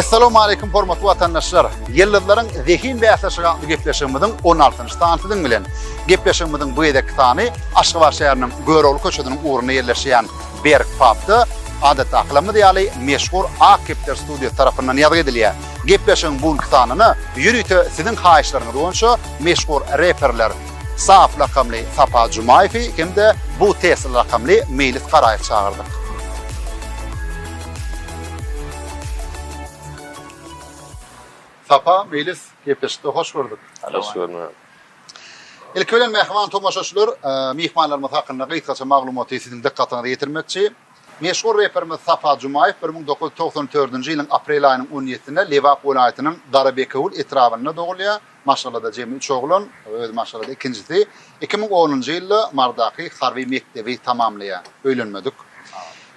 Essalamu aleykum hormatly watandaşlar. Ýyldyzlaryň zehin we ähli atly gepleşigimiziň 16-njy sany siziň bilen. Gepleşigimiziň bu gezek sany Aşgabat şäheriniň Görogly köçesiniň ugrunda ýerleşýän Berk Pubda adatda aklymyz ýaly meşhur Ak kepler studiýasy tarapyndan ýazgy edilýär. Gepleşigiň bu günki sanyna ýörite siziň haýyşlaryňyz boýunça meşhur reperler Saaf lakamly Sapa Jumaýewi hem-de Bu Tesla lakamly Meýlis Garaýew çagyrdyk. Sapa, Meýlis, gepleşikde hoş gördük. Hoş görnüň. Ilki bilen mähriban tomaşaçylar, myhmanlarymyz hakynda gysgaça maglumaty siziň dykgatyňyza ýetirmekçi. Meşhur reperimiz Sapa Jumaýew bir müň dokuz ýüz togsan dördünji ýylyň aprel aýynyň on ýedisinde Lebap welaýatynyň Garabekewül etrabynda dogulýar. Maşgalada jemi üç oglan, özi maşgalada ikinjisi. Iki müň onunjy ýylda Mardaky harby mekdebi tamamlaýar. Öýlenmedik.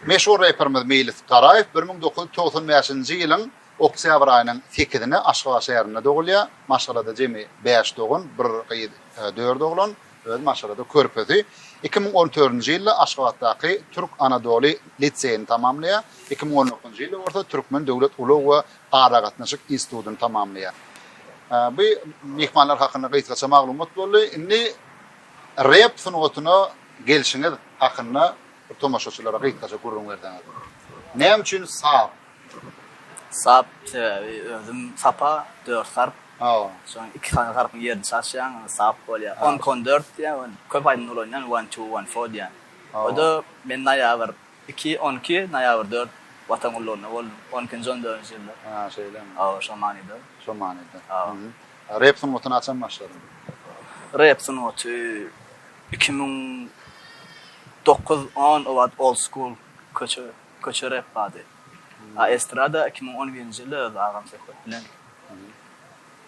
Meşhur reperimiz Meýlis Garaýew bir müň dokuz ýüz togsan bäşinji ýylyň oktýabr aýynyň sekizine Aşgabat şäherinde dogulýar. Maşgalada jemi bäş dogan, bir gyz, dört oglan. Öz maşgala körpesi iki müň on dördünji ýylda Aşgabatdaky Türk Anadoly liseýini tamamlaýar, iki müň on dokuzynjy ýylda bolsa Türkmen döwlet ulag we aragatnaşyk institutyny tamamlaýar. Bu myhmanlar hakynda gysgaça maglumat boldy. Indi rep sungatyna gelşiňiz hakynda tomaşaçylara gysgaça gürrüň berseňiz. Näme üçin saz? Sap sebäbi özüm sapa dört harp şoň iki sany harpyň ýerini çalşýaň onda sap bolýar on iki on dört diýýär ony köp aýdymda ulanýan one two one four diýýän oda men naýabr iki on iki naýabr dört watan gullugynda boldum on ikinji on dördünji ýylda ha şeýlemi hawa şo manyda şo manyda hawa rep sungatyna haçan başladyň rep sungaty iki müň dokuz on o wagt old school köçe. Köçe rep bady. A estrada iki müň on birinji ýylda öz agam söhbet bilen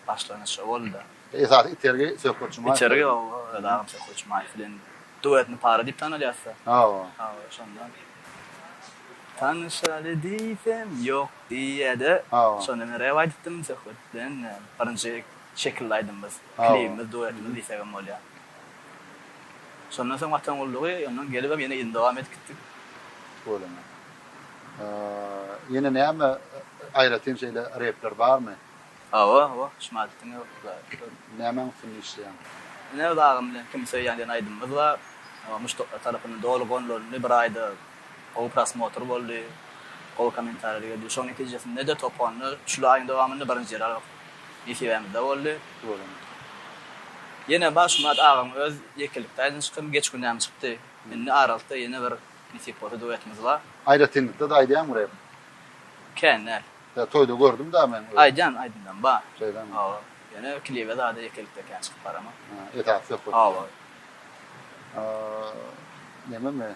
başlanyş şo boldy-da. Esasy itergi Söhbet Jumaýew. Itergi hawa öz agam Söhbet Jumaýew bilen duetini para diýip tanalýasda. Hawa. Hawa şondan. Tanyşaly diýsem ýok diýýädä. Hawa. Şonda men rep aýdypdym Söhbet bilen birinji şekilli aýdymymyz, klibimiz, duetimiz diýsegem bolýar. Şondan soň Watan gullugy, ondan gelibem ýene ýyl dowam edip gitdik. Bolýa. Ýene näme aýratyn şeýle repler barmy? Hawa, hawa, Şymadytdyň öwütleri. Nämäň üstünde işleýäň? Ine, Öz agym bilen kimi söýýän diýen aýdymymyz bar. Muşdaklar tarapyndan doly gonlandy, bir aýda Gowy prosmotr boldy, gowy kommentariýalar geldi. Şoň netijesinde-de top onda şul aýyň dowamynda birinji ýer almak nesibämizde boldy. Ýene Bagşymat agaň öz ýekelikde aýdan çykymy geç günäm çykdy. Indi aralykda ýene bir nesip bolsa duetimiz bar. Aýratynlykda-da aýdýaňmy rep? Kän däl. Ýa toýda gördüm-dä men. Aýdýan aýdymlarym bar. Şeýdemi? Hawa. Ýöne klibe zada ýekelikde kän çykyp baramok. Esasy söhbet. Hawa. Nememi?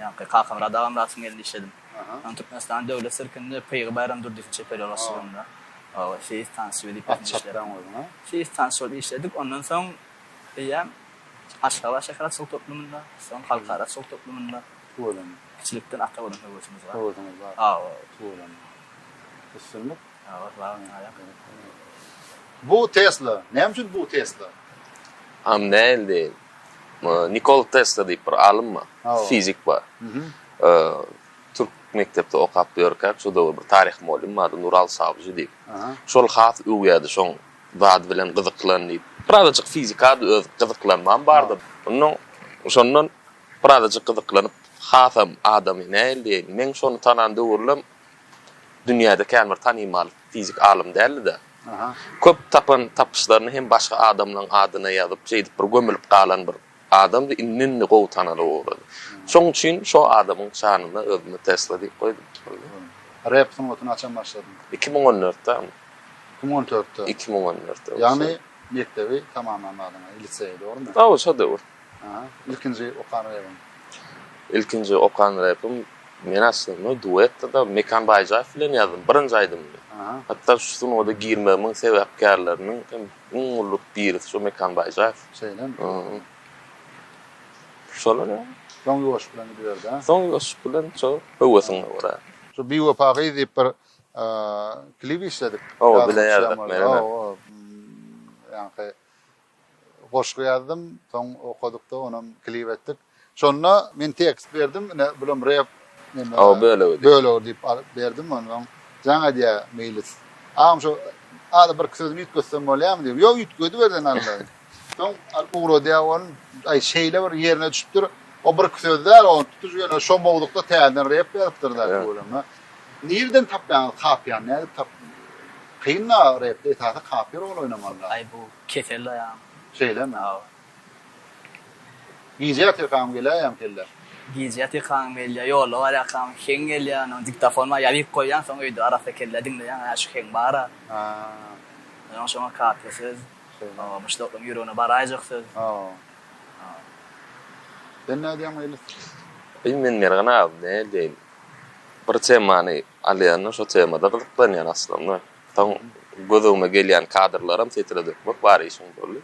Ýaňky kakam Rada Agamyradowyň elinde işledim. Soň Türkmenistanyň Döwlet sirkinde Pygy Baýram Durdiewiň çeper ýolbaşçylygynda seýis tansçy welipasynda işledim. At çapýaň özüňe? Seýis tansçy bolup işledik. Ondan soň eýýäm Aşgabat şäher atçylyk toplumynda, soň halkara atçylyk toplumynda. Tüweleme. Kiçilikden ata bolan höwesimiz bar. Höwesiňiz bar. Hawa. Tüweleme. Üstünlik. Bu Tesla. Näme üçin bu Tesla? Am näil deýin. Nikol Tesla diýip bir alym bar. Fizik bar. Türk mekdepde okap ýörkäk şo döwür bir taryh molim ady Nural Sawjy diýip. Şol has öwýärdi şoň zady bilen gyzyklan diýip. Birazajyk fizika da öz gyzyklanmam bardy. Ondan şondan birazajyk gyzyklanyp hasam adamy näil deýin. Meň şony tanan döwürlem dünýäde kän bir tanymal fizik alym däldi-de, köp tapan tapyşlaryny hem başga adamlaryň adyna ýazyp, şeýdip bir gömülip galan bir adamdy, indi-indi gowy tanalyp ugrady. Şoň üçin şo adamyň şanyna özüme Tesla diýip goýdum. Rep sungaty haçan başladyň? Iki müň on dörtdemi? Iki müň on dörtde. Iki müň on dörtde. Ýagny mekdebi tamamlamadyňyz, liseýi, dogrumy? Hawa, şo döwür. Ilkinji okan repim. Ilkinji okan repim men aslynda duetde-de Mekan Baýjaýew bilen ýazdym birinji aýdymymy. Hatda şu sunagada girmegimiň sebäpkärleriniň hem iň uly birisi şu Mekan Baýjaýew. Şeýlemi? Şolar ýaly. Soň ýuwaşlyk bilen gidiberdi-ä. Soň ýuwaşlyk bilen şo höwesiňe görä. Şu Biwepa gyz diýip bir klip işledik. Oba bilen ýazdyk men. Oba. Ýaňky goşgy ýazdym. Soň okadykda onam klip etdik. Şonda men tekst berdim, ine bulam rep bölegi bölegi diýip alyp berdim. Onsoň jaň edýär Meýlis. Agam şo ada birki sözüni üýtgetsem bolýarmy diýip. Ýok üýtgedibersen Alla. Soň alyp ugradýar ony. Aý şeýle bir ýerine düşüpdir. O birki söz däl, ony tutuş ýöne şo mowzukda täzeden rep ýazypdyr-da öwrenme. Nirden tapýaňyz kapiýany nädip tap? Kyn-a repde esasy kapiýa rol oýnamalyda. Aý bu Kesel daýan. Şeýlemi aga. Gije ýatyrkam geläýýämi kelle? Gije ýatyrkam gelýär, ýolda barýarkam heň gelýär, ony diktofonyma ýazyp goýýan, soň öýde arassa kelle diňleýän, hä şu heň bar-a. Soň şoňa kaka söz. Şeýlemi. Muşdaklaryň ýüregine baraýjak söz. Sen nädýäň meýlis? Eý men Mergen aga nädýeýin. Bir temany alýan-da şo temada gyzyklanýan aslynda. Soň göz öňüme gelýän kadrlaram setre dökmek bar işiň boldy.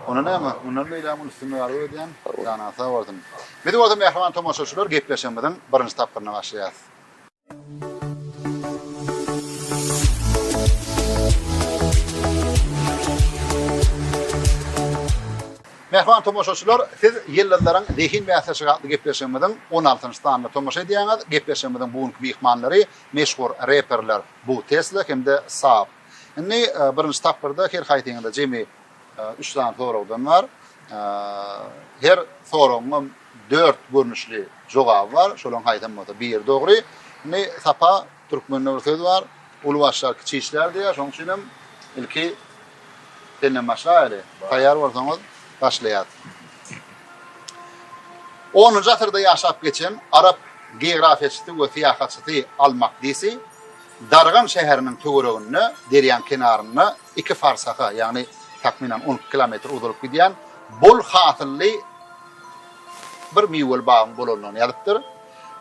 Onda näme, mundan beýlägem uly üstünlik arzuw edýän. Janyňyz sag bolsun. Biz bolsa mähriban tomaşaçylar gepleşigimiziň birinji tapgyryna başlaýas. Mähriban tomaşaçylar, siz Ýyldyzlaryň zehin bäsleşigi atly gepleşigimiziň on altynjy sanyna tomaşa edýäňiz. Gepleşigimiziň bu günki myhmanlary meşhur reperler Bu Tesla hem-de Saab. Indi birinji tapgyrda her haýsyňyzda jemi üç sany soragdan bar. Her soragyňam dört görnüşli jogaby bar. Şolaryň haýsam bolsa biri dogry. Indi Sapa Türkmende bir söz bar, Uly başlar kiçi işlär diýýär, şonuň üçin hem ilki senden başlaýaly. Taýýar bolsaňyz, başlaýas. Onunjy asyrda ýaşap geçen arap geografiýaçysy we syýahatçysy Al-Makdisi Dargan şäheriniň töwereginde, derýaň kenarynda iki farsaha, ýagny takmynan on iki kilometr uzalyp gidýän bol hasylly bir miweli bagyň bolandygyny ýazypdyr.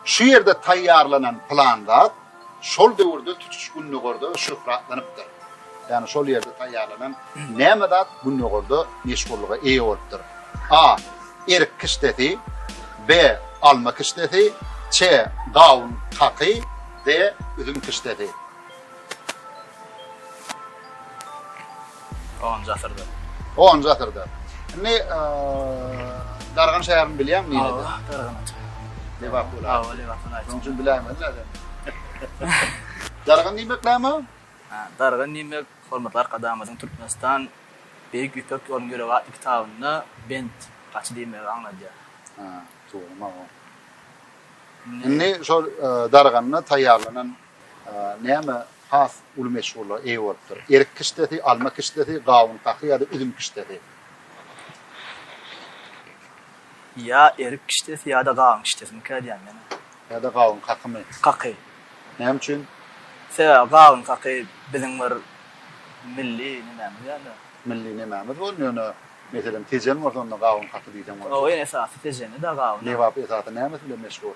Şu ýerde taýýarlanan pylan zat şol döwürde tutuş Gündogarda şöhratlanypdyr. Ýagny şol ýerde taýýarlanan näme zat Gündogarda meşhurlyga eýe bolupdyr. A. Erik kişdesi. B. Alma kişdesi. Ç. Gawun kaky. D. Üzüm kişdesi. Onunjy asyrda. Onunjy asyrda. Indi Dargan şäherini bilýäň nirede? Awa, Dargan şäheri. Lebap welaýaty. Awa, Lebap welaýaty. Şonuň üçin biläýmeli nädeni. Dargan diýmek näme? Dargan diýmek, hormatly Arkadagymyzyň Türkmenistan Beýik Ýüpek ýolunyň ýüregi atly kitabynda bent, gaçy diýmegi aňladýar. Hä, dogrumy-aw? Indi şol Darganda taýýarlanan Näme has uly meşhurlyga eýe bolupdyr? Erik kişdesi, alma kişdesi, gawun kaky ýa-da üzüm kişdesi? Ýa erik kişdesi ýa-da gawun kişdesinikä diýýän men. Ýa-da gawun kakymy? Kaky. Näme üçin? Sebäbi gawun kaky biziň bir milli nemämiz ýa-da. Milli nemämiz boldy ýöne meselem tejen bolsa onda gawun kaky diýseň boljak. Oýun esasy tejeni-dä gawun. Lebap esasy nämesi bilen meşhur?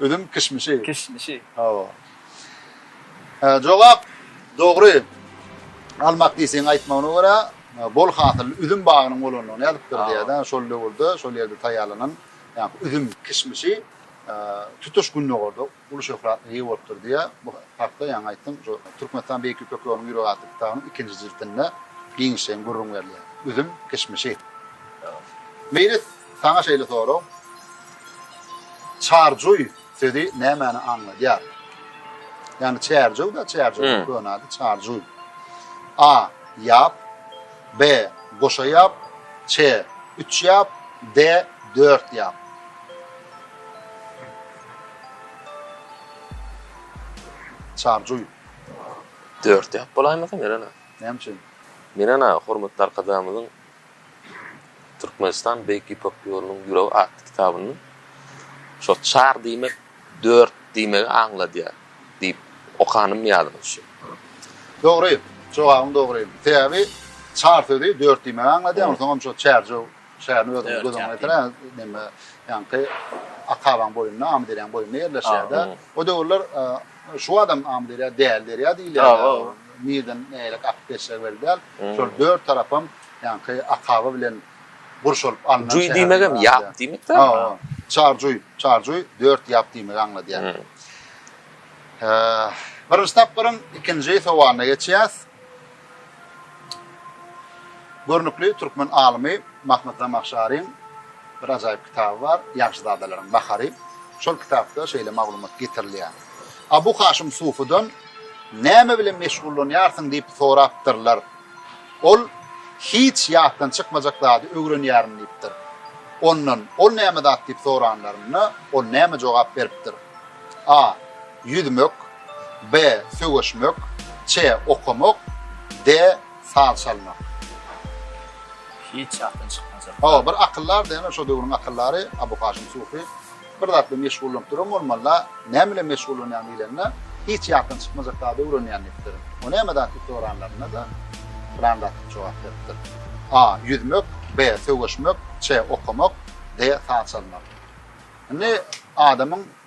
Üzüm kişmişi. Kişmişi. Hawa. Hä, jogap dogry. Almak diýseň aýtmagyna görä, bol hasylly üzüm bagynyň bolandygyny ýazypdyr diýýär-de, şol döwürde şol ýerde taýýarlanan ýa-da üzüm kişmişi tutuş Gündogarda uly şöhratly eýe bolupdyr diýýär. Bu hakda ýaňy aýtdym, şu Türkmenistan Beýik Ýüpek ýolunyň ýüregi atly kitabynyň ikinji jildinde giňişleýin gürrüň berilýär. Üzüm kişmişi. Meýlis Saňa şeýle sorag, Çarjuý sözi nämäni aňladýar? Ýagny Çärjew-de, Çärjewiň köne ady Çarjuý. A. Ýap. B. Goşa ýap. Ç. Üç ýap. D. Dört ýap. Çarjuý. Dört ýap bolaýmasyn, Eren aga? Näme üçin? Menen aga, hormatly Arkadagymyzyň Türkmenistan Beýik Ýüpek ýolunyň ýüregi atly kitabynda şo çar diýmek dört diýmegi aňladýar diýip okanym ýadyma düşýär. Dogry, jogabyň dogry. Sebäbi çar sözi dört diýmegi aňladýar, onsoňam şo Çärjew şäherini özüňiz göz öňüňe getiriň, neme, ýaňky Akabaň boýunda, Amyderýanyň boýunda ýerleşýär-de. O döwürler Şu adam Amyderýa däli derýa diýilýär. Nilden nägilek akyp geçjegi belli däl. Şol dört tarapam ýaňky Akaba bilen gurşalyp alnan şäher. Juý diýmegem ýap diýmekdir. Çarjuý, Çarjuý dört ýap diýmegi aňladýar. Birinji tapgyryň ikinji sowalyna geçýäs. Görnükli türkmen alymy Mahmyt Zamahşaryň bir ajaýyp kitaby bar, Ýagşyzadalaryň nahary. Şol kitapda şeýle maglumat getirilýär. Abu Haşym Sufydan näme bilen meşgullanýarsyň diýip sorapdyrlar. Ol hiç ýatdan çykmajak zady öwrenýärin diýipdir. Ondan ol näme zat diýip soranlarynda ol näme jogap beripdir. A. Ýüzmek. B. Söweşmek C. Okamak D. Saz çalmak Hiç ýatdan çykmajak. Hawa, bir akyldar diýen şo döwrüň akyldary Abu Haşim Sufi bir zat bilen meşgullanyp duran bolmaly, näme bilen meşgullanýan diýilende, hiç ýatdan çykmajak zady öwrenýän diýipdir. O näme zat diýip soranlarynda-da, plan zat diýip jogap beripdir. A. Ýüzmek B. Söweşmek C. Okamak D. Saz çalmak. Indi adamyň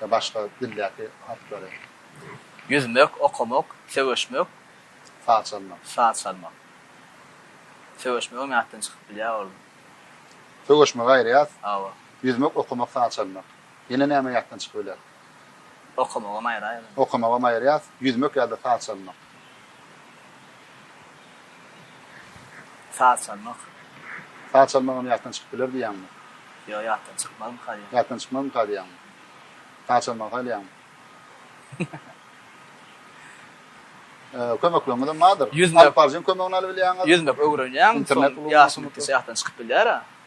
we başga dildäki harplary. Ýüzmek, okamak, söweşmek. Saz çalmak. Saz çalmak. Söweşmegem ýatdan çykyp bilýär ol. Söweşmegi aýyrýas. Hawa. Ýüzmek, okamak, saz çalmak. Ýene näme ýatdan çykybiler? Okamagam aýraýyň. Okamagam aýyrýas. Ýüzmek ýa-da saz çalmak. Saz çalmak. Saz çalmagam ýatdan çykyp biler diýýäňmi? Ýok, ýatdan çykmazmy kalýaň? Ýatdan çykmazmy kalýaň? Saz çalmagy haýlaýaňmy? Kömekleňizem bardyr. Alyp baryjyň kömegini alyp bilýäňiz. Ýüzmek öwrenýäň. Internet ulgamyny. Ýaşyň ýetse ýatdan çykyp bilýär-ä.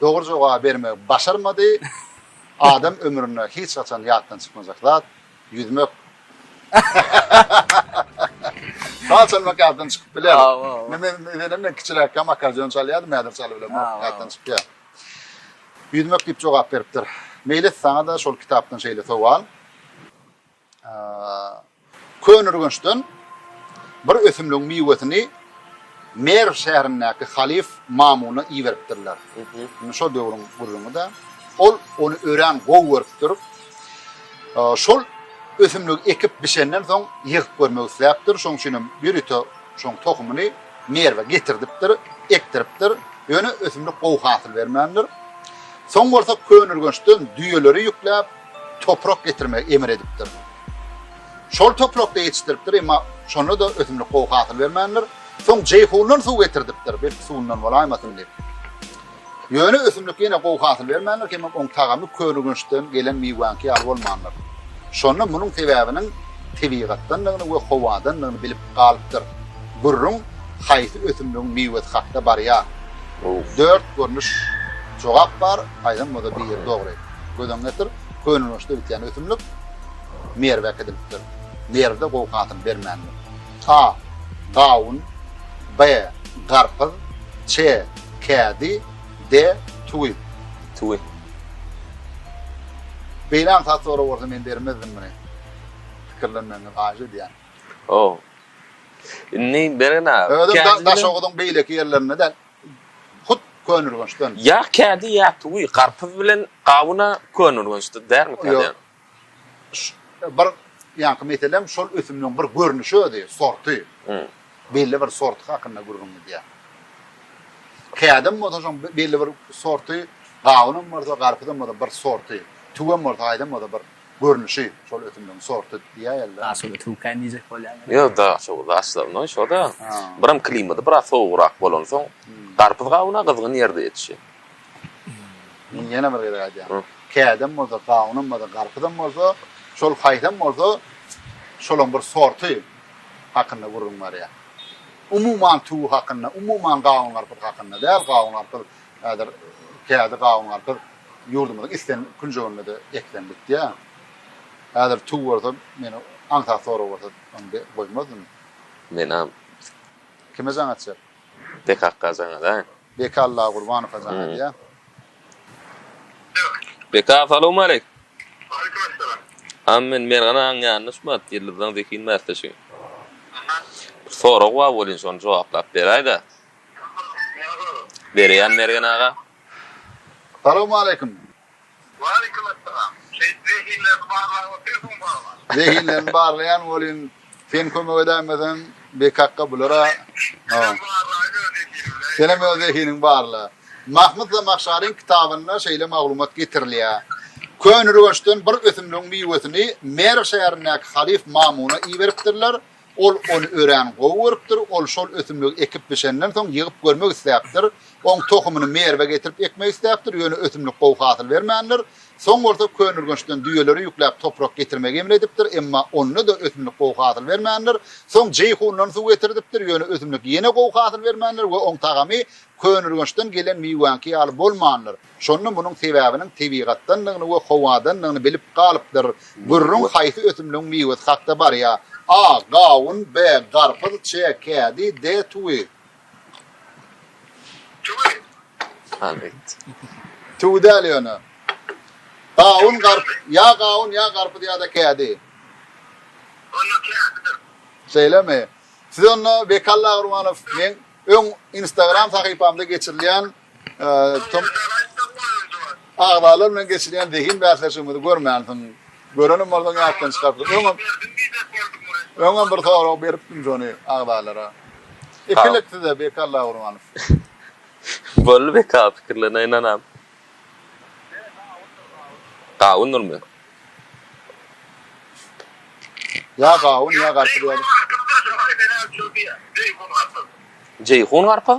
Dogry jogaby bermegi başarmady. Adam ömründe hiç haçan ýatdan çykmajak zat, ýüzmek. Haçan ýatdan çykyp biler. Menem men kiçiräkkäm akkordeon çalýardym, häzir çalyp bilemok, ýatdan çykýar. Ýüzmek diýip jogap beripdir. Meýlis saňa-da şol kitapdan şeýle sowal. Köneürgençden bir ösümligiň miwesini Merw şäherindäki halyf Mamuna iberipdirler. Indi şol döwrüň gürrüňi-dä. Ol ony örän gowy görüpdir. Şol ösümligi ekip bişenden soň ýygyp görmek isläpdir. Şonuň üçin hem ýörite şoň tohumyny Merwe getirdipdir, ekdiripdir. Ýöne ösümlik gowy hasyl bermändir. Soň bolsa Köneürgençden düýeleri ýükläp, toprak getirmegi emr edipdir. Şol toprakda ýetişdiripdir, emma şonda-da ösümlik gowy hasyl bermändir. Soň Jeýhundan suw getirdipdir, belki suwundan bolaýmasyn diýip. Ýöne ösümlik ýene gowy hasyl bermändir, hemem oň tagamy Körüginçden gelen miwäňki ýaly bolmandyr. Şonda munuň sebäbiniň tebigatdandygyny we howadandygyny bilip galypdyr. Gürrüň haýsy ösümligiň miwesi hakda barýar? Dört görnüş jogap bar, aýdan bolsa biri dogry. Göz öňüňe getir, könelgeçde bitýän ösümlik Merwe äkidilipdir. Merwde gowy hasyl bermändir. A. Gawun B. Garpyz C. Kädi D. Tuwi. Tuwi. Beýle aňsat sorag bolsa men bermezdim muny. Pikirlenmegiňizi haýyş edýän. Ow. Indi beren aga. Özüm Daşoguzyň beýleki ýerlerinde däl. Hut Könürgençden. Ýa kädi ýa tuwi garpyz bilen gawuna Könürgençde därmi kädi? Bir ýaňky meselem şol ösümligiň bir görnüşi özi, sorty. Belli bir sorty hakynda gürrüň gidýär. Kädem bolsa şoň belli bir sorty, gawunam bolsa, garpyzam bolsa bir sorty, tuwem bolsa, aýdam bolsa bir. görnüşi şol ösümligiň sorty diýäýerler. A şol ötüwkäý diýjek bolýan. Ýok da şo daşlaryndan şo da. Biram klimaty biraz sowugrak bolansoň garpyz gawuna gyzgyn ýerde ýetişýär. Muny ýene bir gezek aýdýan. Kädem bolsa gawunam bolsa garpyzam bolsa şol haýsam bolsa şolaň bir sorty hakynda gürrüň barýar. Umuman tüwi hakynda umuman gawun garpyz hakynda däl gawun garpyz häzir kädi gawun garpyz Ýurdumyzyň islen künjeginde-de eklenip bitýär. Häzir tüw bolsa, meni aňsat sorag bolsa, ony be, goýmazdym. Menam. Kime jaň atjak? Bekakga jaň adaýyn. Beka Allagurbanowa jaň adýa. Beka, salowmaleýk! Waleýkim assalam. Hany men Mergen agaň ýanyna uçmap, Ýyldyzdan zehin bäsleşigi. Aha. Bir sorag bar welin, şony jogaplap beräý-dä. Näme sorag? Bereýän Mergen aga. Salowmaleýkim. Waleýkim essalam. Şeýt zehinlerini barlap otyrsyň barma? Zehinlerini barlaýan welin sen kömek edäýmeseň bekakga bulara Senem barlaýyn öz zehinimi. Senem öz zehiniňi barla. Mahmyt Zamahşaryň kitabynda şeýle maglumat getirilýär. Köneürgençden bir ösümligiň miwesini Merw şäherindäki halyf Mamuna iberipdirler. Ol ony örän gowy görüpdir. Ol şol ösümligi ekip-biçenden soň, ýygyp görmek isläpdir. Oň tohumyny Merwe getirip ekmek isläpdir, ýöne ösümlik gowy hasyl bermändir. Soň bolsa Könürgençden düýeleri ýükläp toprak getirmegi emr edipdir, emma onda-da ösümlik gowy hasyl bermändir. Soň Jeýhundan suw getirdipdir, ýöne ösümlik ýene gowy hasyl bermändir we oň tagamy Könürgençden gelen miwäňki ýaly bolmandyr. Şonda munuň sebäbiniň tebigatdandygyny we howadandygyny bilip galypdyr. Gürrüň haýsy ösümligiň miwesi hakda barýar? A. Gawun B. Garpyz C. Kädi D. Tüwi. Tüwi. Haly aýt. Tüwi däl ýöne. Gawun garp ýa gawun ýa garpyz ýa-da kädi. Onda kädidir. Şeýlemi? Siz onda Bekalla Gurmanow meň öň instagram sahypamda geçirilýän Agzalar bilen geçirýän zehin bäsleşigimizi görmänsiň. Görenim bolsaň ýatdan çykarsyň. Öňem Öňem bir sorag beripdim şony agzalara. Ikilik size Beki Allahurmanow. Boldy Beki aga pikirlerine ynanam. Gawundyrmy? Ýa gawun ýa garpyz ýaly. Jeýhun garpyz.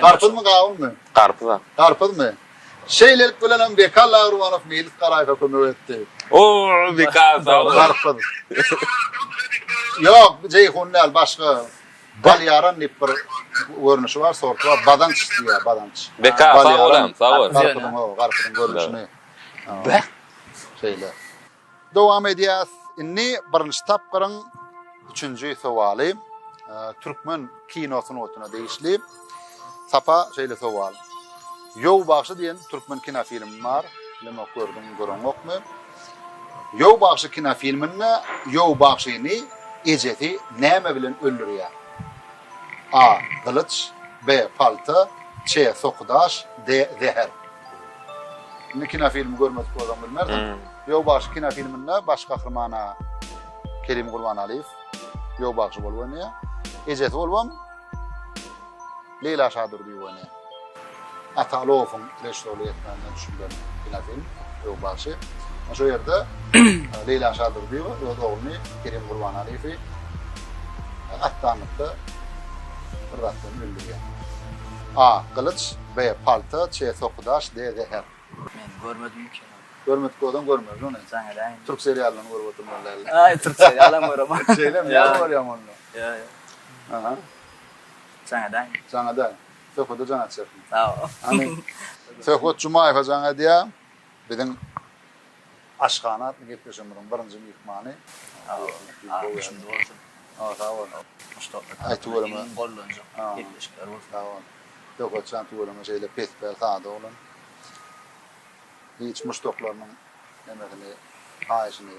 Garpyzmy gawunmy? Garpyz a. Garpyzmy? Şeýlelik bilenem Beka Lagruwanow Meýlis Garaýewe kömek etdi. Ooo Beka sag bol. Garpyz. Ýok, jeýhun däl, başga. Balýaran diýip bir görnüşi bar, sorty bar. Badanç diýýär, badanç. Beka sag bol hem, sag bol. Garpyzyň o, garpyzyň görnüşini. Beh. Şeýle. Dowam edýäs. Indi birinji tapgyryň üçünji sowaly türkmen kino sungatyna degişli. Sapa şeýle sowal. Ýow bagşy diýen türkmen kinofilmi bar. Bilemok gördüňmi, göreňokmy? Ýow bagşy kinofilminde Ýow bagşyny ejesi näme bilen öldürýär? A. Gylyç B. Palta C. Soky daş D. Zäher Indi kinofilmi görmedik bolsaň bilmersiň. Ýolbagşy kinofilminde baş gahrymana Kerim Gurbanaliýew ýolbagşy bolup oýnaýar. Ejesi bolubam Leýla Şadurdyýewa oýnaýar. Atalowyň režissýorlyk etmändigine düşündiren kinofilm Öwbaşy. Şo ýerde Leýla Şadurdyýewa öz ogluny Kerim Gurbanaliýewi atdanlykda bir zat bilen öldürýär. A. Gylyç, B. Palta, Ç. Sokudaş, D. Zäher. Men görmedim bu kino. Görmedik bolsaň görmeli ony. Jaň edäýen indi. Türk seriallaryny görüp oturmaly däldir. Aý, türk serialam göremok. Şeýlemi? Ýa görýäňmi onda? Ýa, ýa. Aha. Jaňa daýy. Jaňa daýy. Söhbede jan atýarsyň. Sag bol. Hany, Söhbet Jumaýew jaň edýär. Biziň Aşhana atly gepleşigimiziň birinji myhmany. Sag bol. Altmyşynjy bolsun. Hawa, sag bol. Muştapla tarapyndan iň gollanjak gepleşikler bolsun. Sag bol. Söhbet jan tüweleme şeýle pespäl, sada oglan. Hiç muşdaklarynyň nemesini, haýyşyny.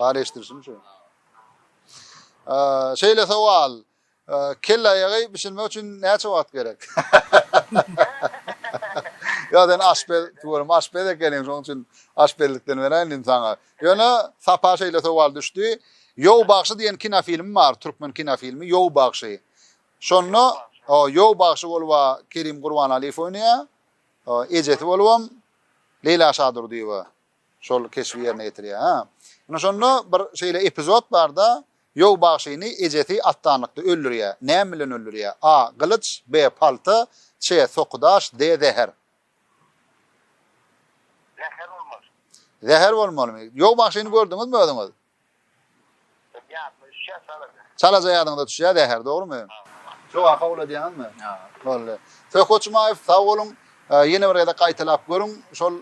Bari eşdirişim şu. Şeýle sowal. Kelle aýagy bişirmek üçin näçe wagt gerek? Ýa sen aşpez, tuwalym aşpez ekeniň, şonuň üçin aşpezlikden beräýin indi saňa. Ýöne sapa şeýle sowal düşdi. Ýow bagşy diýen kinofilm bar, türkmen kinofilmi Ýow bagşy. Şonda o Ýow bagşy bolup Kerim Gurbanaliýew oýnaýar. Ejesi bolubam Leýla Şadurdyýewa. Şol keşbi ýerine ýetirýär. Hä. Ine şonda bir şeýle epizod barda, Ýow bagşyny ejesi atdanlykda öldürýär. Näme bilen öldürýär? A. Gylyç, B. Palta, Ç. Sokudaş, D. Zäher. Zäher bolmaly. Zäher bolmalymy? Ýow bagşyny gördüňizmi özüňiz? Çalaja ýadyňyza düşýä zäher, dogrymy? Jogap kabul edýäňizmi? Boldy. Söhbet Jumaýew, sag boluň. Ýene bir gezek gaýtalap görüň, şol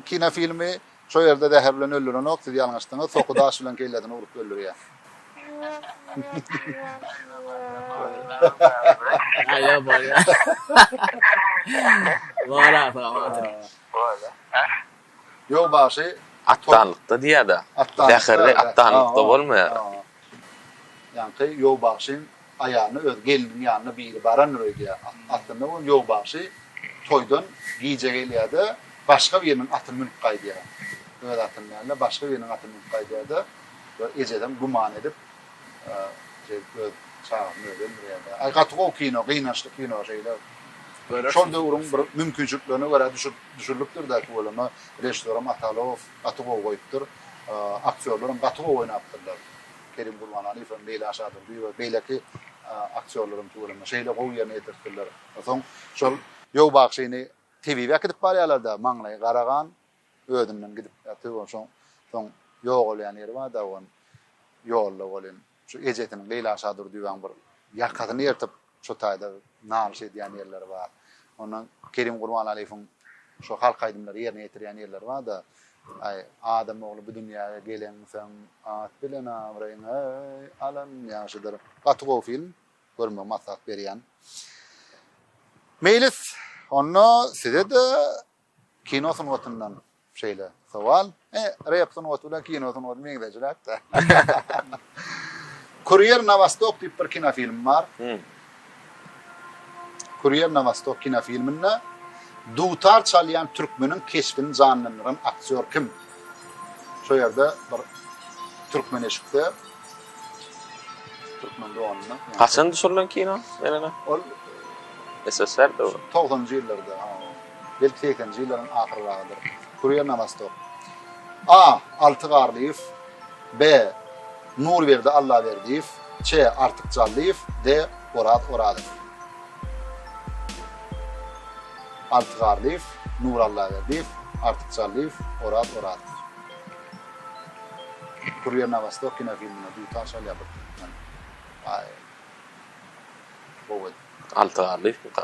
kinofilmi, şo ýerde zäher bilen öldürenok, siz ýalňyşdyňyz, soky daş bilen kellesini urup öldürýär. Ýok bagşy. Atdanlykda diýýäda. Bäherli atdanlykda bolmaýar. Ýaňky Ýok bagşyň aýalyna öz gelniň ýanyna biri barandyr öýdýär. Aslynda bolsa Ýok bagşy toýdan gije gelýärde başga biriniň atyny münüp gaýdýar. Öz atyny däl-de başga biriniň atyny münüp gaýdýarda we ejesem güman edip. Jigit öz çagasyny özi öldürýärdi. Aý gaty gowy kino, gynançly kino şeýle. Şol döwrüň bir mümkinçiliklerine görä düşürilipdir da tüweleme. Režissýoram Atalow gaty gowy goýupdyr. Aktýorlaram gaty gowy oýnapdyrlar. Kerim Gurbanaliýew hem, Leýla Şadurdyýewa we beýleki aktýorlaram tüweleme şeýle gowy ýerine ýetiripdirler. Onsoň şol Ýowbagşyny tebibe äkidip barýarlar-da, maňlaýy gara gan, Özünden gidip ýatyr. Şoň soň ýogalýan ýeri bar daban ýolda welin, şu ejesiniň Leýla Şadurdýewaň bir ýakasyny ýyrtyp, şo taýda nalyş edýän ýerleri bar. Onda Kerim Gurbanaliýewiň şo halk aýdymlary ýerine ýetirýän ýerleri bar-da, Aý, adam ogly bu dünýäge gelensoň, at bilen abraýyňy-aý alan ýagşydyr. Gaty gowy film, görmegi maslahat berýän. Meýlis, onda size-de Kino sungatyndan şeýle sowal. E, rep sungaty bilen kino sungaty meňzeşräk-de. Kurýer na Wostok diýip bir kinofilm bar. Kurýer na Wostok kinofilminde dutar çalýan türkmeniň keşbini janlandyran aktýor kim? Şo ýerde bir türkmen eşikde türkmen doganynda. Haçan düşürilen kino? Ol SSR-de. 90-njy ýyllarda. Belki segseninji ýyllaryň ahyryragydyr. Kurýer na wostok. A. Alty Garlyýew. B. Nurberdi Allaberdiýew. Ç. Artyk Jallyýew. D. Oraz Orazow. Alty Garlyýew, Nur Allaberdiýew, Artyk Jallyýew, Oraz Orazow. Kurýer na wostok kinofilmine dutaş alýar bir türkmen. Aý. Gowy. Alty Garlyýewmika?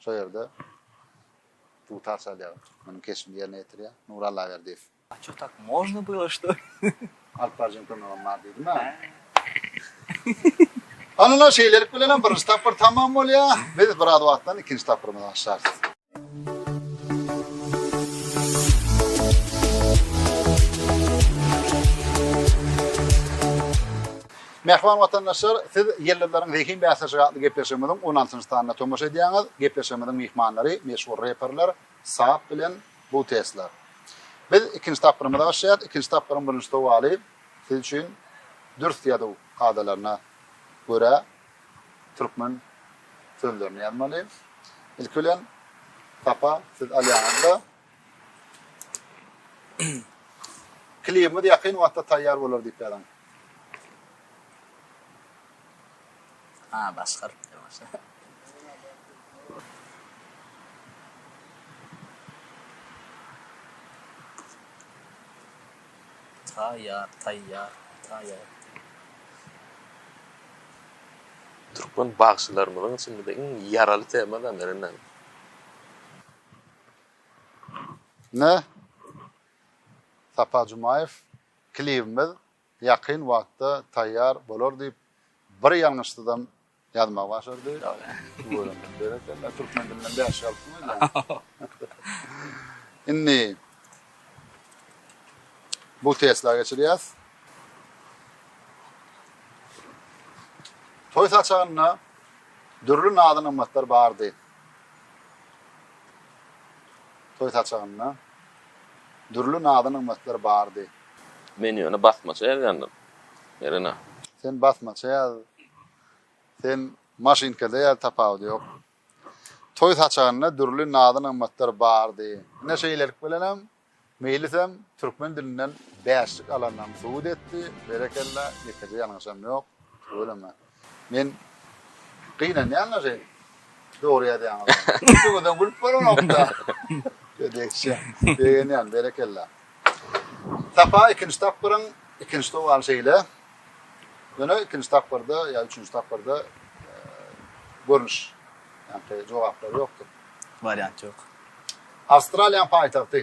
Şol ýerde dutar çalýar. Munuň keşbini ýerine ýetirýär Nury Allaberdiýew. A ço tak można było şto? Alyp baryjyň kömegem bar diýdim-ä. Hanyna şeýlelik bilenem birinji tapgyr tamam bolýar. Biz biraz wagtdan ikinji tapgyrymyzy başlarys. Mähriban watandaşlar, siz Ýyldyzlaryň zehin bäsleşigi atly gepleşigimiziň on altynjy sanyna tomaşa edýäňiz. Gepleşigimiziň myhmanlary meşhur reperler Saap bilen Butesla. Biz ikinji tapgyrymyza başlaýas. Ikinji tapgyryň birinji sowaly siz üçin dürs ýazuw kadalaryna görä türkmen sözlerini ýazmaly. Ilki bilen, Sapa, siz alýaňyz-da, Klibimiz ýakyn wagtda taýýar bolar diýip ýazyň. Türkmen bagşylarymyzyň içinde iň ýaraly tema-da, meniňem. Ine, Sapar Jumaýew, klibimiz ýakyn wagtda taýýar bolar diýip, bir ýalňyşsyzam ýazmaga başardy. Berekella, türkmen dilinden bäş galypsyňyz. Indi bu Tesla geçirýäs. Toý saçagynda dürli nazy-nygmatlar bardy. Toý saçagynda dürli nazy-nygmatlar bardy. Men ýöne basmaça ýazýandym, Merina. Sen basmaça ýaz, sen maşynkada ýaz, tapawudy ýok. Toý saçagynda dürli nazy-nygmatlar bardy. Ine şeýlelik bilenem Meýlisem türkmen dilinden bäşlik alandygyny subut etdi. Berekella, ýekeje ýalňyşam ýok. Tüweleme. Men gynanýan-la şeýdip. Dogry ýazýaňyzam. Üçüňizem gülüp bolanok-da. Gödekçe. Begenýän, berekella. Sapa ikinji tapgyryň ikinji sowaly şeýle. Ýöne ikinji tapgyrda ýa üçünji tapgyrda görnüş. Ýa-da jogaplary ýokdur. Wariant ýok. Awstraliýanyň paýtagty.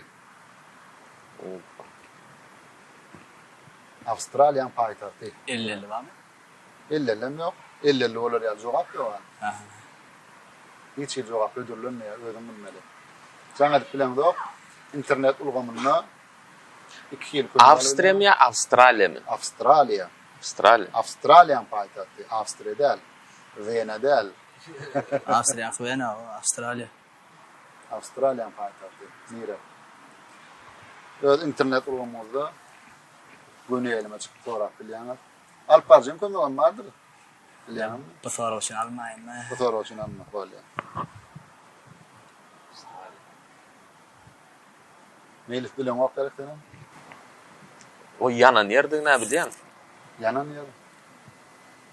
Awstraliýanyň paýtagty. Elli-elli barmy? Elli-elli hem ýok. Elli-elli bolar ýaly jogap ýok ha. Aha. Hiç hili jogap hödürlenmeýär, özüň bilmeli. Jaň edip bileňzok. Internet ulgamynda iki hili kömek alyp Awstriýa bilýär. ýa Awstraliýamy? Awstraliýa. Awstraliýa. Awstraliýanyň paýtagty. Awstriýa däl. Wena däl. Awstriýa Wena, o, Awstraliýa. Awstraliýanyň paýtagty nire? Öz internet ulgamyňyzda göni elime çykyp sorap bilýäňiz. Alyp barjyň kömegem bardyr. Bilýäňizmi? Bu sorag üçin almaýynmy? Bu sorag üçin alma, bolýar. Meýlis bileňok gerek senem? O ýanan ýerdigini-ä bilýän. Ýanan ýer.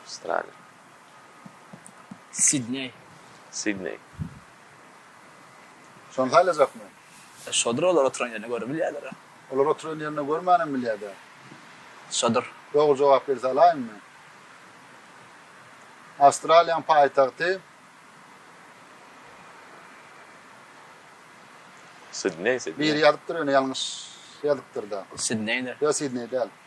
Awstraliýa. Sidneý. Sidneý. Şony saýlajakmy? Şodur olar oturan ýerine görüp bilýärler-ä. Olar oturan ýerine görmänem bilýär-dä. Şodur. Dogry jogap gelse alaýynmy? Awstraliýaň paýtagty. Sidneý, Sidneý. Biri ýazypdyr ýöne ýalňyş ýazypdyr-da. Sidneýdir. Ýok, Sidneý däl.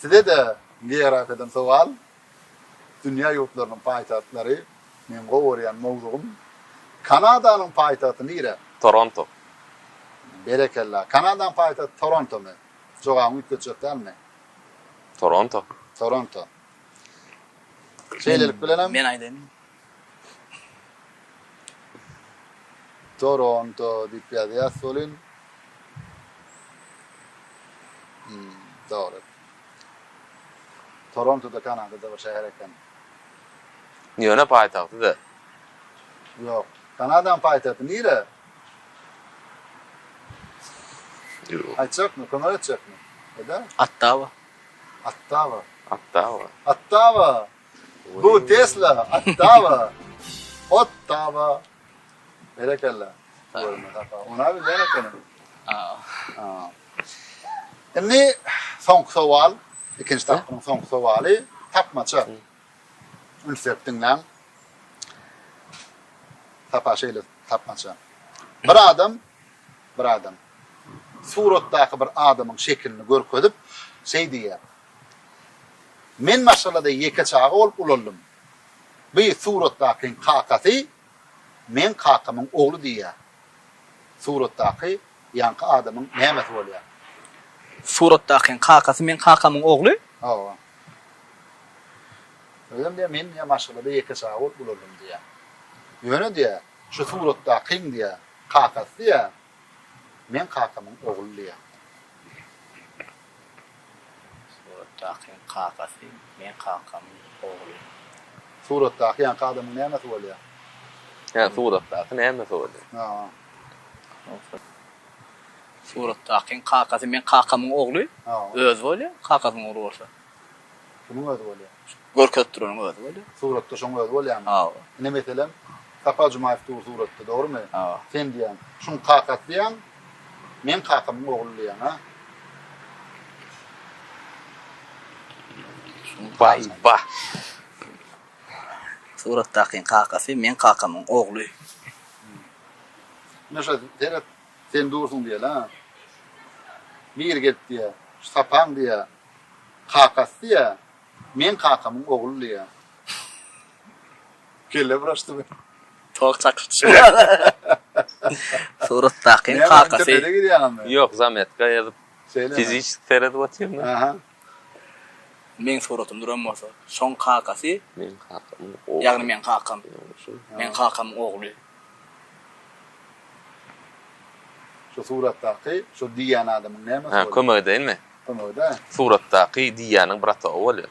Size-de meýrap eden sowal, Dünýä ýurtlarynyň paýtagtlary, meň gowy görýän mowzugym. Kanadanyň paýtagty nire? Toronto. Berekella. Kanadanyň paýtagty Torontomy? Jogabyňy üýtgetjek dälmi? Toronto. Toronto. Şeýlelik bilenem. Men aýdaýyn. Toronto diýip ýazýas welin. Hum, dogry. Toronto-da Kanadada bir şäher eken. Ýöne paýtagty-da. Ýok. Kanadaň paýtagty nire? Ýok. Aýtjakmy, kömek etjekmi? Eda? Ottawa. Ottawa. Ottawa. Ottawa. Bu Tesla, Ottawa, Ottawa. Berekella. Ona bir ýene kene. Indi soňky sowal, ikinji tapgyryň soňky sowaly, tapmaça. Üns berip diňläň. Tapa şeýle tapmaça. Bir adam, bir adam suratdaky bir adamyň şekilini görkezip, şeý diýýär. Men maşgalada ýeke çaga bolup ulandym. Bu suratdakyň kakasy meň kakamyň ogly diýýär. Suratdaky ýaňky adamyň nämesi bolýar? Suratdakyň kakasy meň kakamyň ogly? Hawa. Özem diýýär, men diýýär, maşgalada ýeke çaga bolup ulandym diýýär. Ýöne diýýär, şu suratdakyň diýýär, kakasy diýýär, meň kakamyň ogly diýýär. Suratdaky kakasy meň kakamyň ogly. Suratdaky ýanky adamyň nämesi bolýar? Hä, suratdaky nämesi bolýar? Hä. Suratdakyň kakasy meň kakamyň ogly, özi bolýar, kakasynyň ogly bolsa? Kimiň özi bolýar? Görkezip duranyň özi bolýar. Suratda şoň özi bolýarmy? Hawa. Ine, meselem, Sapar Jumaýew dur suratda, dogrumy? Hawa. Sen diýýäň, şuň kakasy diýýäň? Meň kakamyň ogly diýýäň-a. Baý, bah. Suratdakyň kakasy meň kakamyň ogly. Ine şo, seret, sen dursuň diýeli-ä. Biri gelip diýýä, Şu sapaň diýýä, kakasy diýýä, meň kakamyň ogly diýýä. Kelle buraşdymy? Tok çakyp düşüp. Suratdakyň kakasy. Näme girýäňmi? Ýok, zametka ýazyp. Şeýlemi? Fiziçeski seredip otyryn. Aha. Meň suratymy duran bolsa, şoň kakasy. Meň kakam. Ýagny meň kakam. Meň kakamyň ogly. Şu suratdaky, şu diýýän adamyň näme? Kömek edeýinmi? Kömek ede. Suratdaky diýýäniň bratogy bolýar.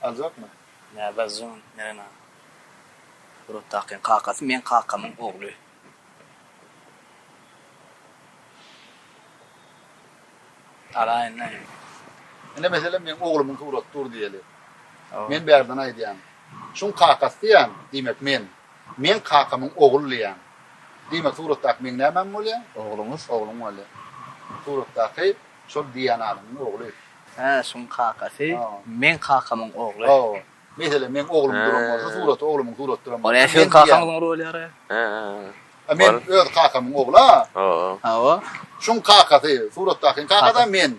Aljakmy? Nä Bazjyň Nerena? Buratdakyň kakasy meň kakamyň ogly. Alaýyn näme? Ine meselem meň oglumyň suraty dur diýeli. Men bärden aýdýan. Şuň kakasy diýýän, diýmek men. Meň kakamyň ogly diýýän. Diýmek suratdaky meň nämäm bolýa? Ogluňyz, ogluň bolýa. Suratdaky şol diýýän adamyň ogly. Hä şuň kakasy meň kakamyň ogly. Hawa. Meselem meň oglum duran bolsa suraty oglumyň surat duran bolsa. Ol siziň kakaňyzyň roly ýara. Hä. Men öz kakamyň ogly a. Hawa. Hawa. Şuň kakasy suratdakyň kakasy men.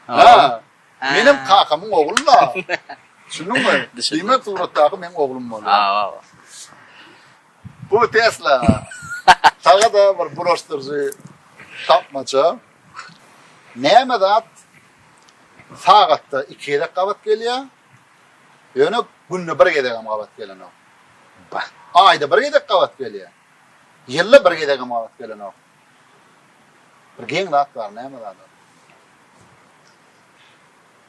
Hawa. Menem kakamyň ogly la. Düşündiňmi? Düşündim. Suratdaky meň oglum bolýar. Hawa. Bu Tesla. Saňa da bir bulaşdyryjy tapmaça. Näme zat sagatda iki gezek gabat gelýär, ýöne günde bir gezegem gabat gelenok. Aýda bir gezek gabat gelýär. Ýylda bir gezegem gabat gelenok. Bir geň zat bar, näme zat?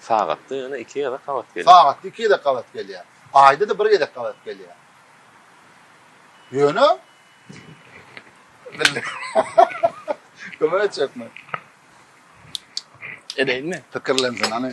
Sagatda ýöne iki gezek gabat gelýär. Sagatda iki gezek gabat gelýär. Aýda-da bir gezek gabat gelýär. Ýöne Kömek etjekmi? Edeýinmi? Pikirlensin, hany.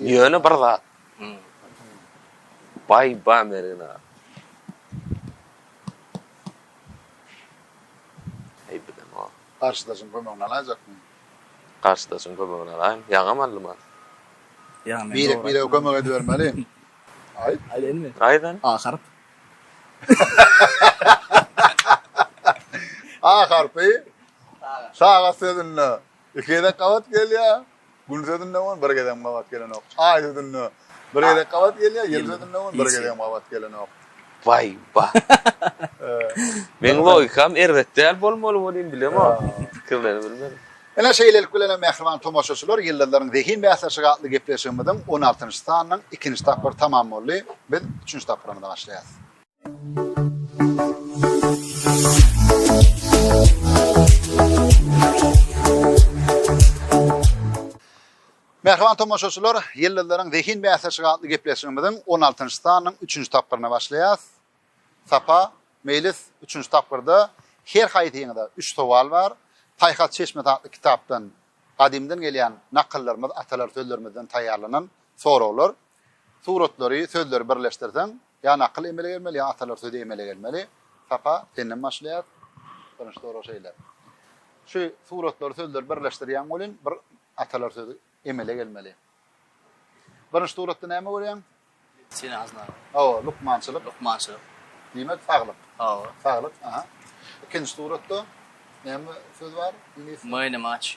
Ýöne bir zat baý-ba Mergen aga. Garşydaşyň kömegini alaýjakmy? Garşydaşyň kömegini alaýyn. Ýaňam aldym ha. Birek-birege kömek edibermeli. Aýt. Aýdaýynmy? Aýt hany. A harp. A harpy sagat sözünde Iki gezek gabat gelýär. Gündiz özünde bolun bir gezegem gabat gelenok. Aý özünde bir gezek gabat gelýär, ýyldyz özünde bolun bir gezegem gabat gelenok. Waý ba. Meň logikam erbet däl bolmaly welin bilemok. Pikirleri bilmedim. Ine şeýlelik bilen hem mähriban tomaşaçylar Ýyldyzlaryň zehin bäsleşigi atly gepleşigimiziň on altynjy sanynyň ikinji tapgyry tamam boldy. Biz üçünji tapgyrymyza başlaýarys. Mähriban tomaşaçylar, Ýyldyzlaryň zehin bäsleşigi atly gepleşigimiziň 16-njy sanynyň 3-nji tapgyryna başlaýarys. Sapa, Meýlis, 3-nji tapgyrda her haýsyňyza 3 sowal bar. Paýhas çeşmesi atly kitapdan gadymdan gelýän nakyllarymyz, atalar sözlerimizden taýýarlanan soraglar. Suratlary, sözleri birleşdirseň, ýa nakyl emele gelmeli, ýa atalar sözi emele gelmeli. Sapa, senden başlaýas. Birinji sorag şeýle. Şu suratlary, sözleri birleşdirýäň welin, bir atalar sözi emele gelmeli. Birinji suratda näme görýäň? Medisina hyzmaty. Hawa, lukmançylyk. Lukmançylyk. Diýmek, saglyk. Hawa. Saglyk, aha. Ikinji suratda näme söz bar? Iňlis. Many match.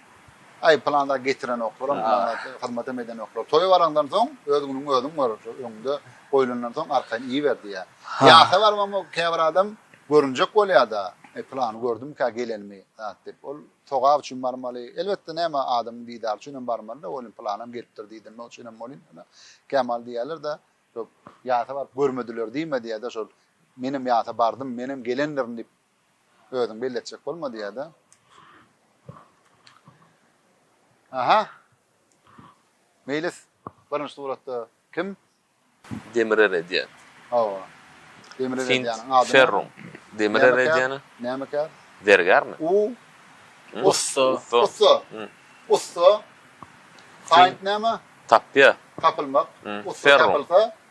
Aý, pylanlar getirenoklar-a, pylanlar hyzmatam edenoklar. Toýa baraňdan soň, öz günüňi özüň gör, öňde goýlandan soň arkaýyn iýiber diýýär. Ýasa barybam o käbir adam görünjek bolýar-da, Eý, pylany gördümika gelenimi, zat diýip. Ol sogap üçin barmaly. Elbetde, näme, adamyň didary üçin hem barmaly-da, welin, pylanam gelipdir diýdinok üçin hem bolýar. Ýöne kämaly diýýärler-de, Ýo, ýasa baryp görmediler diýme diýýär-de, şol, Menem ýasa bardym, menem gelendirin diýip, Özüň belli etjek bolma diýýärde. Aha. Meýlis birinji suratda kim? Demir eredýän. Hawa. Demir eredýäniň ady. Ferrum. Demir eredýäni. Näme kär? Zergärmi? U. Ussa. Ussa. Ussa. Kaýnt näme? Tapýa. Tapylmak. Ussa tapylsa,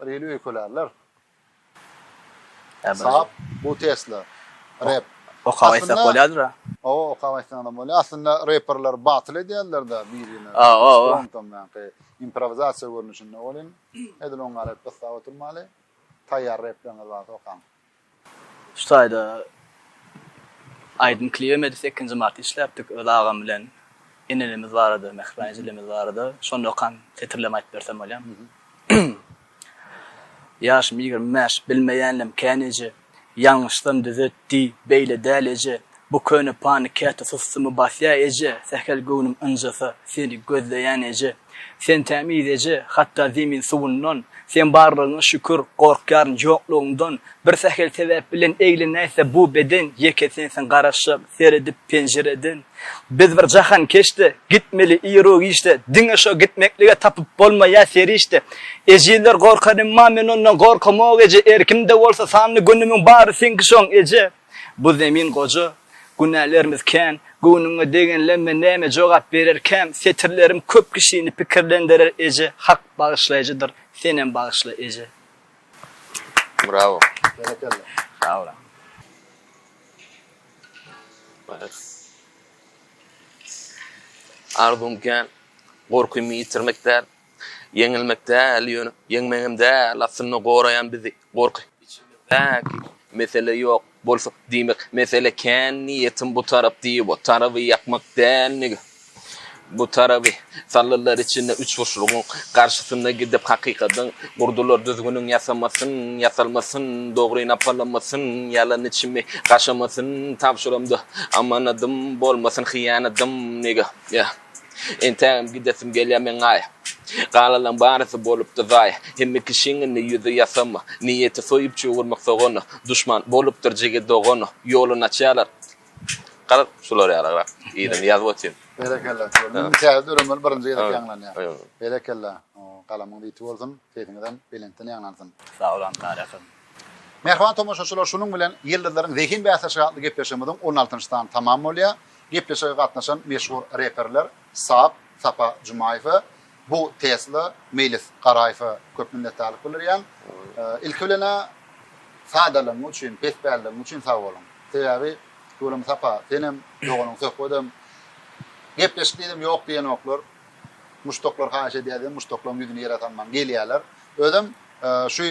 Bir hili öýkelärler. Saap bu Tesla. Rap. Okap aýtsak bolýadyr-a. O, okap aýtsaňam bolýar. Aslynda reperler batyl edýärler-de birine. O, o, o. Ondan ýaňky improvizasiýa görnüşinde bolýan. Edil oňa rap gyssap oturmaly. Taýýar repleriňiz barsa okaň. Şu taýda aýdym klibi Medi sekinji marty işläpdik öz agam bilen Enelimiz barada Mähriban ejelimiz barada şonda okan setirlerimi aýdyp bersem bolýamy Ýaşym ýigrimi bäş bilmeýänlem kän eje Ýalňyşsam düzet diý beýle däl eje Bu köne pany käte sustumy basýa eje Sähel göwnüm ynjasa seni gözleýän eje Sen tämiz eje, hatda zemin suwundan, Sen barlygyňa şükür, gorkýaryn ýoklugyňdan, Bir sähel sebäp bilen eglenäýse bu beden, Ýeke sensiň garaşar, seredip penjireden. Biz bir jahan keşde, gitmeli ir-u giçde, Diňe şo gitmeklige tapyp bolmaýar serişde. Ejizler gorkar emma men ondan gorkamok eje, Erkim-de bolsa sanly günümiň bary seňki şoň eje. Bu zemin goja, günälerimiz kän, Göwnüňe degenlenme näme jogap bererkäm, Setirlerim köp kişini pikirlendirer eje, Hak bagyşlaýjydyr, senem bagyşla eje. Bravo. Berekella. Sag boluň. Arzuwym kän, gorkymy ýitirmek däl. Ýeňilmek däl, ýöne ýeňmek hem däl, aslynda goraýan bizi gorky. Içimizdäki mesele ýok bolsa, diýmek, mesele kän, niýetim bu tarap diýip, o taraby ýakmak däl, nige? Bu taraby saldylar içine üçburçlugyň, garşysyna gidip hakykadyň, gurdular düzgüniň ýasamasyn, ýasalmasyn, dogry napalamasyn, ýalan içimi gaşamasyn, tabşyramda amanadym bolmasyn, hyýanadym, nige? Ýa. Entägem gidesim gelýär meň-aý. Galalaň barysy bolupdy zaý. Hemme kişiň indi ýüzi ýasama. Niýeti soýup çugurmak sogana. Duşman bolupdyr jigi dogana. Ýoluny açýarlar. Gara şular ýalygrak. Yzyny ýazyp otyryn. Berekella. Meniň täze döremeli birinji gezek ýaňlanýar. Berekella. Galamyňyz ýiti bolsun. Sesiňizem belentden ýaňlansyn. Sag boluň Gara akam. Mähriban tomaşaçylar şunuň bilen Ýyldyzlaryň zehin bäsleşigi atly gepleşigimiziň on altynjy sany tamam bolýar. Gepleşige gatnaşan meşhur reperler Sap, Sapa Jumaýewe, Bu, Tesla, Meýlis Garaýewe köp minnetdarlyk bildirýän. Ilki bilen-ä sadalygyň üçin, pespälligiň üçin sag boluň. Sebäbi Gülüm Sapa, senem, doganyň Söhbedem gepleşik diýdim ýok diýenoklar. Muşdaklar haýyş edýär diýen muşdaklaryň ýüzüni ýere salmaň gelýärler. Özem şu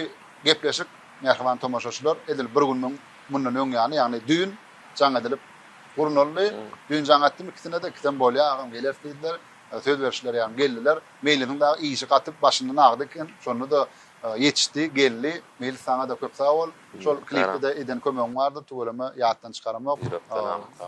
gepleşik mähriban tomaşaçylar edil bir gün müň mundan öň ýaly ýagny düýn jaň edilip gurnaldy. Düýn jaň etdim ikisine de ikisem bolýar agam geler diýdiler. Söz berişler ýaly geldiler. Meýlisiň dagy işi gatyp başyndan agdy eken. Şonda da ýetişdi, geldi. Meýlis saňa da köp sag bol. Şol klipde de eden kömegiň bardyr. Tüweleme ýatdan çykaramok.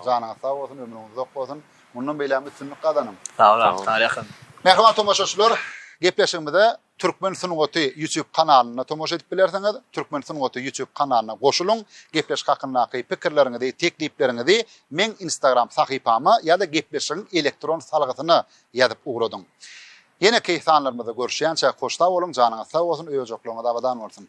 Janyňyz sag bolsun, ömrüňiz uzak bolsun. Mundan beýlägem üstünlik gazanyň. Sag boluň. Sag boluň. Ýakyn. Mähriban tomaşaçylar, gepleşigimize Türkmen sungaty YouTube kanalynda tomaşa edip bilersiňiz. Türkmen sungaty YouTube kanalyna goşulyň. Gepleşik hakyndaky pikirleriňizi, teklipleriňizi meň Instagram sahypama ýa-da gepleşigiň elektron salgysyna ýazyp ugradyň. Ýeneki sanlarymyzda görüşýänçä hoş sag boluň, janyňyz sag bolsun, öý-ojaklaryňyz abadan bolsun!